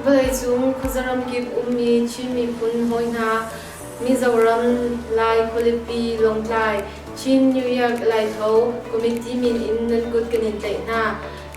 vawleicung khuazaram kip ummi Chin miphun hawi hna Mizoram Lai Khualipi Lawngtlai Chin New Year Laitho Committee min in nan kut kan in tlaih hna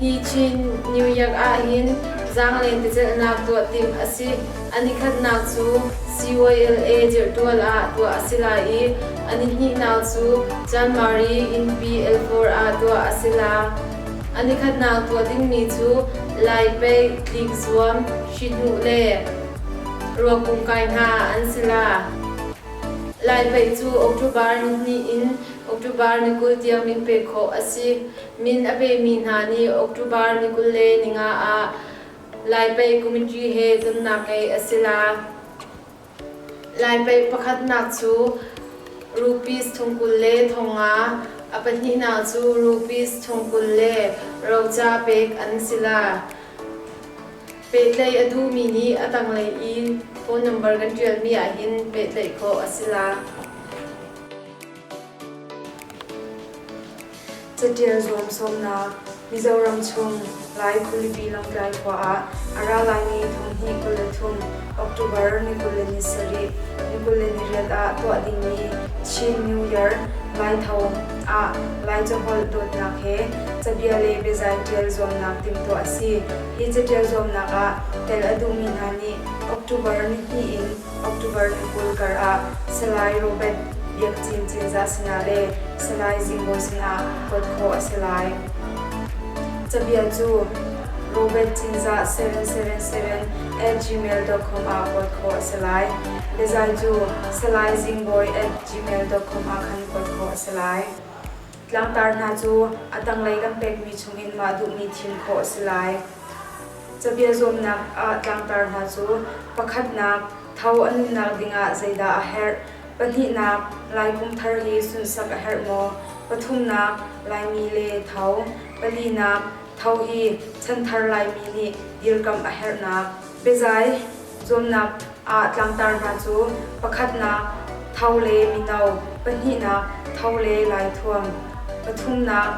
Hi Chin New Year ahhin zaanglei biacelhnak tuah timh a si. A nikhatnak cu CYLA dirhtual ah tuah a si lai i a nihnihnak cu Janmari innpi L4 ah tuah a si la. A nikhatnak tuah dingmi cu Lai pei tlik zuam, hrihnuh le ruakum kai hna an si la. Lai pei cu October nihnih in October ni kul tiang min pek khawh a si. Min a pemi hna nih October ni kul le ni nga ah Lai Pei Committee he zumnak ngei a si la. Lai Pei pakhatnak cu rupees thong kul le thong nga, a pahnihnak cu rupees thong kul le roca pek an si la. Pehtlaih a duhmi nih a tanglei i phone number kan ṭialmi ahhin pehtlaih khawh a si la. Caṭial zuam sawmnak Mizoram chung Lai khualipi Lawngtlai khua ah a ra laimi thonghnih kul le thum October ni kul le ni sarih ni kul le ni riat ah tuah dingmi Chin New Year Laitho ah Lai caholh dawtnak he cabia le biazai ṭial zuamnak timhtuah a si. Hi caṭial zuamnak ah tel a duhmi hna nih October ni hnih in October thla kul kar ah Salai Robert Biak Cin Cinzah sinah le Salai Zingbawi sinah kuat khawh a si lai. Cabia cu Robert Cinzah Seren-Seren-Seren at gmail.com ah kuat khawh a si lai. Biazai cu Salai Zingbawi at gmail.com ah khan kuat khawh a si lai. Tlangtar hna cu a tanglei kan pekmi chungin mah duhmi thim khawh a si lai. Cabia zuamnak ah tlangtar hna cu pakhatnak tho an nunnak dingah zeidah a herh? Pahnihnak, laikum thar hi sunsak a herh maw? Pathumnak, Laimi le tho. Palinak, tho hi chanthar Laimi nih dirkamh a herhnak biazai. Zuamnak ah tlangtar hna cu pakhatnak tho le mino, pahnihnak tho le laithuam, pathumnak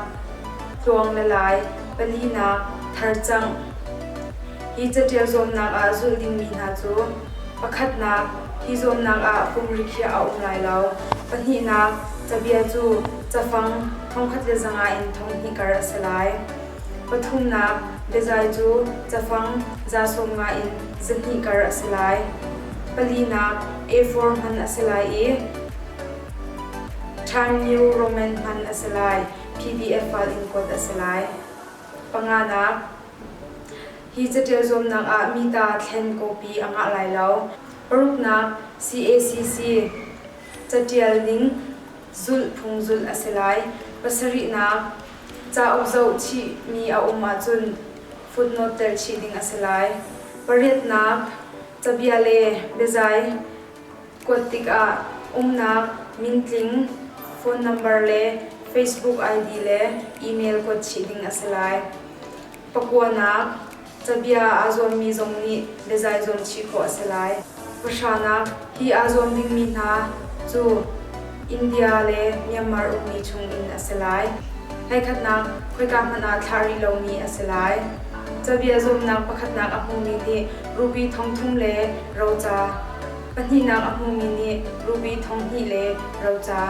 tluang le lai, palihnak tharcangh hi caṭial zuamnak ah zulh dingmi hna cu pakhatnak hi zuamnak ah kum rikhiah a um lai lo, pahnihnak cabia cu cafang thongkhat le zanga in thonghnih kar a si lai. Pathumnak biazai cu cafang za sawmnga in zahnih kar a si lai. Palinak A4 hman a si lai i Time New Roman hman a si lai. PDF file in kuat a si lai. Panganak Hi caṭial zuamnak ah mi ta thlen copy a ngah lai lo. Paruknak CACC Caṭial ning zulh phung zulh a si lai. Pasarihnak Cauk zohchihmi a um ahcun footnote tel chih ding a si lai. Pariatnak, cabia le biazai kuat tikah umnak, mintling, phone number le Facebook ID le email kuat chih ding a si lai. Pakuanak, Cabia aa zuammi zong nih biazai zuam chih khawh a si lai. Pahranak, hi aa zuam dingmi hna cu India le Myanmar ukmi chungin a si lai. Hleikhatnak, khoika hmanh ah thlah rih lomi a si lai. Cabia zuamnak pakhatnak a hmumi nih rubi thong thum le roca, pahnihnak a hmumi nih rubi thong hnih le roca.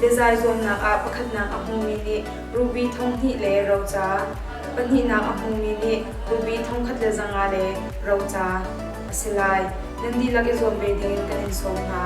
Biazai zuamnak ah pakhatnak a hmumi nih rubi thong hnih le roca, pahnihnak a hmumi nih rubi thongkhat le zanga le roca a si lai. Nan dihlak i zuam ve dingin kan in sawm hna.